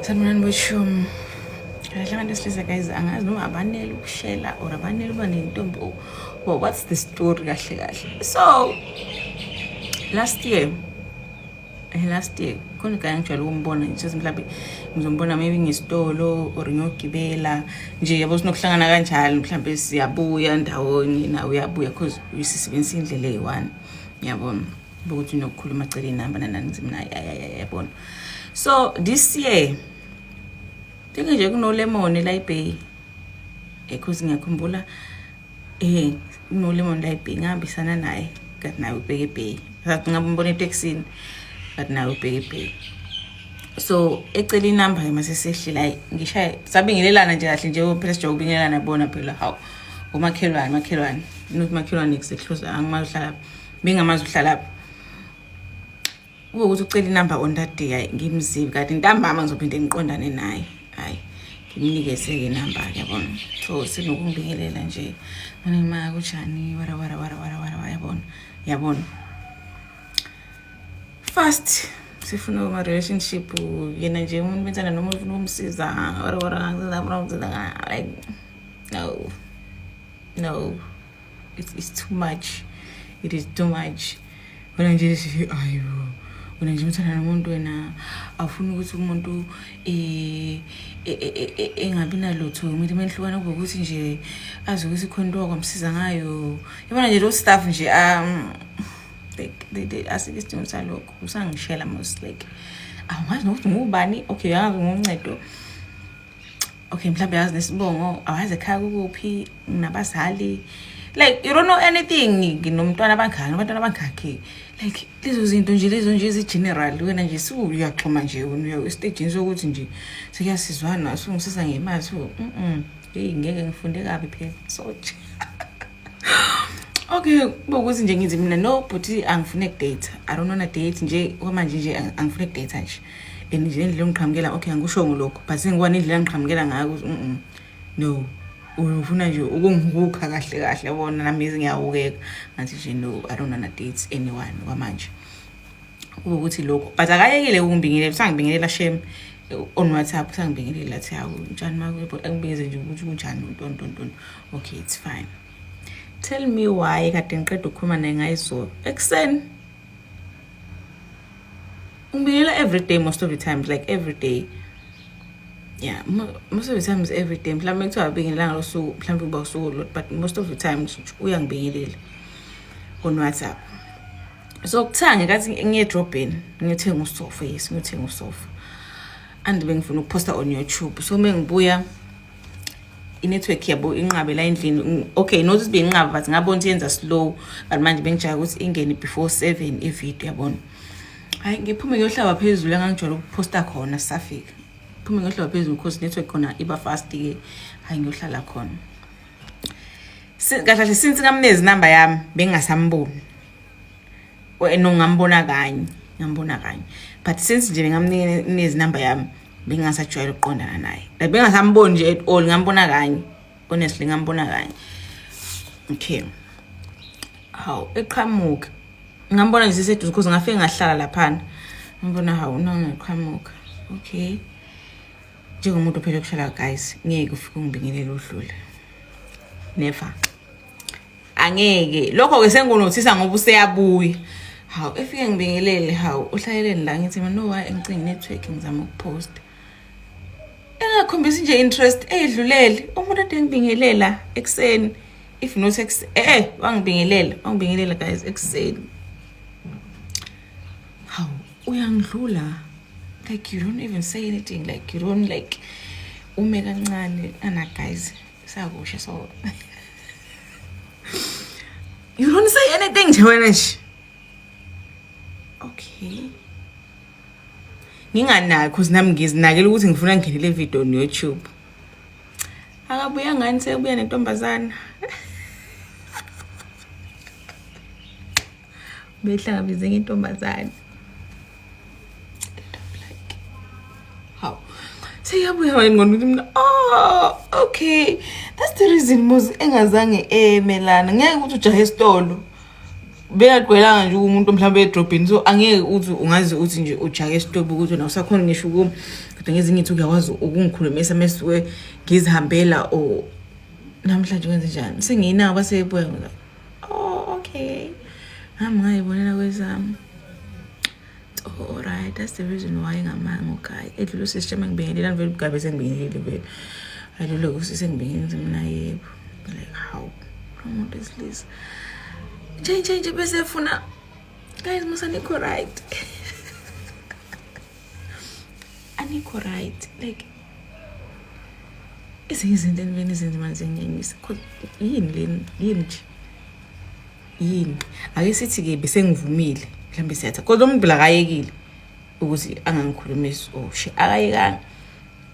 sanibonani boshumi kahle abantu esilisa guys angazi noma abanele ukushela or abanele uba nentombi or oh, what's the story kahle kahle so last year eh, last year khona igane ngijwayele ukumbona nje mhlawumbe ngizombona maybe ngesitolo or ngiyogibela nje yabo sinokuhlangana kanjalo mhlawumbe siyabuya ndawonye nawe uyabuya because uyisisebenzisa indlela eyi-one yabona ukuthi nokukhuluma cela inamba nananizimnayo yayayayabona so this year thingi nje kunolemon elayibheyi ekhozi ngiyakhumbula um kunolemon elayibheyi ngihambisana naye kati naye ubheke ebheyi ngathi ngabe umbona etekisini kati naye ubheke ebheyi so ecela inamba ke masesehli la ngishaye sabingelelana nje kahle nje phela sijoke ubingelelana bona phela hawu ngomakhelwane makhelwane nokuthi makhelwane kusehluza angimahlala bengamazi uhlalaphi kube ukuthi ucela inumber on that day hayi ngimzibi kanti ntambama ngizophinde ngiqondane naye hayi ngimnikeze-ke inumber-ke yabona so sinokumbingelela nje manima kujani warawarawarawarawa yabona yabona fast sifuna ma-relationship yena nje umuntu benzana noma ufuna ukumsiza warawara like no no it's, it's too much it is too much wena nje ayo wena nje umthanda nomuntu wena awufuni ukuthi umuntu eh, eh, eh, engabi nalutho umuntu uma nihlukana kube ukuthi nje azi ukuthi khona into wakwamsiza ngayo yabona nje lo staff nje um like they, they, asike isidingo salokho usangishela most like awazi nokuthi ngubani okay angazi ngoncedo okay mhlawumbe yazi nesibongo awazi ekhaya kukuphi nginabazali like you don't know anything nginomntwana abangaki abantwana abangakhi like lezo zinto nje lezo nje ezi-general wena nje siuyaxhuma nje wena esitejini sokuthi nje sekuyasizwana sungisisa ngemali so mm heyi ngeke ngifunde kabi phela soje okay bokuthi nje ngithi mina no bhuti angifune kudata i don't wanna date nje kwamanje nje angifune kudata nje and nje indlela ongiqhamukela okay angikushongo lokho but sengikubona indlela angiqhamukela ngayo ukuthi mm no ufuna nje ukungihukha kahle kahle yabona nami ngiyawukeka ngathi nje no i don't wanna date anyone kwamanje ukuthi lokho but akayekile ukungibingelela usangibingelela shem on whatsapp usangibingelela athi hawu njani makwebo angibingeze nje ukuthi kunjani ntontonton okay it's fine tell me why kade ngiqeda ukukhuluma naye ngayizolo ekuseni ngibingelela every day most of the times like every day yeah most of the times every day mhlawumbe kuthiwa abingelanga losuku mhlawumbe kuba usuku lot but most of the times uyangibingelela on whatsapp so kuthiwa ngekathi ngiyedrobheni ngiyothenga usofa yes ngiyothenga usofa and bengifuna ukuphosta on youtube so uma ngibuya inetwork yabo inqabela endlini okay not ukuthi beyinqaba but ngabona ukuthi yenza slow but manje bengijaya ukuthi ingene before seven ivideo yabona hayi ngiphume ngiyohlaba phezulu engangijwayele ukuphosta khona sisafika ngiphume ngiyohlaba phezulu because network khona iba fast-ke hayi ngiyohlala khona kahle kahle since ngamnezi inamba yami bengingasamboni no ngambona kanye ngambona kanye but since nje bengamnezi inamba yami bengasajwayela ukuqondana naye like bengasamboni nje at all ngambona kanye honestly ngambona kanye okay hawu eqhamuka ngambona nje siseduze because ngafike ngahlala laphana ngambona hawu nona eqhamuka okay njengomuntu ophele kuhlala guys ngeke ufike ungibingelele udlule never angeke lokho ke sengunothisa ngoba useyabuya hawu efike ngibingelele hawu uhlaleleni la ngithi mina no why engicinga network ngizama ukupost engakhombisi nje interest eyidlulele umuntu ade ngibingelela ekuseni if not ekuseni eh wangibingelela wangibingelela guys ekuseni hawu uyangidlula like you don't even say anything like you don't like ume kancane ana guys Sakusho so. you don't say anything nje wena nje. Okay. Nginganaki cause nami ngizinakela ukuthi ngifuna ngene le video on YouTube. Akabuya ngani sekubuya nentombazana. behlangabeze ngentombazane hawu seyabuya wena ngqondo ukuthi mina oh okay that's the reason mos engazange emelana ngeke ukuthi ujahe esitolo beyagqwelanga nje umuntu mhlawumbe edrobheni so angeke uthi ungazi uthi nje ujake esitobi ukuthi wena usakhona ngisho ukumi kodwa ngezinye ithi uyakwazi ukungikhulumisa mesuke ngizihambela or namhlanje kwenze njani sengiyinabo basebuya oh okay ngami ngayibonela kwezami oh right that's the reason why ngamanga ukhaya edlula usisi shema ngibingelela ngivele ugabe sengibingelile vele adlula usisi engibingelile mina yebo like how umuntu esilisa nje nje nje bese efuna guys musanikho right anikho right like ezinye izinto eniveni izinto manje nginyanyisa yini leni yini nje yini ake sithi-ke besengivumile mhlawumbe siyatha kodwa umuntu lakayekile ukuthi angangikhulumisi oshe oh, akayekanga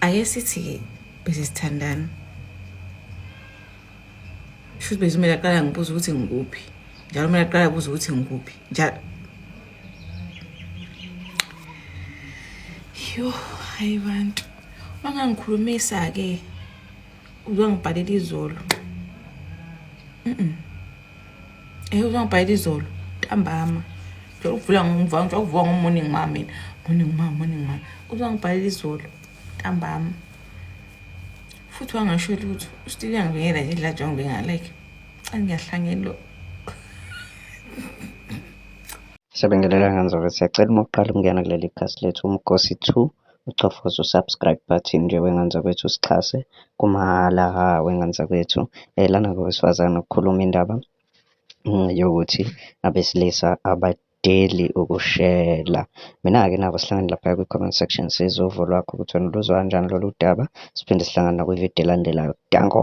ake sithi-ke bese sithandana shuthi bezumele aqala ngibuza ukuthi ngikuphi njalo kumele aqala kuze ukuthi ngikuphi njalo Yho, hayi bantu. Wangangikhulumisa-ke uzongibhalela izolo. Mm-mm. Eh uzongibhalela izolo ntambama. Ngicela ukuvula ngomva, ngicela ukuvuka ngomorning ma mina. Morning ma, morning ma. Uzongibhalela izolo ntambama. Futhi wangasho lutho. Still yangibingela nje la jonge ngingalayithi. Angiyahlangene lo. Siyabingelela nganzolo siyacela uma uqala ukungena kuleli khasi lethu umgosi 2 uchofoza usubscribe button nje wenganza kwethu sixhase kumahhala ha wenganza kwethu eh lana ngowesifazane ukukhuluma indaba mm, yokuthi abesilisa abadeli ukushela mina-ke nabo sihlangane lapha kwi-comment section sizwe uvo lwakho ukuthi wena uluzwa kanjani lolu daba siphinde sihlangane nakwividiyo elandelayo danko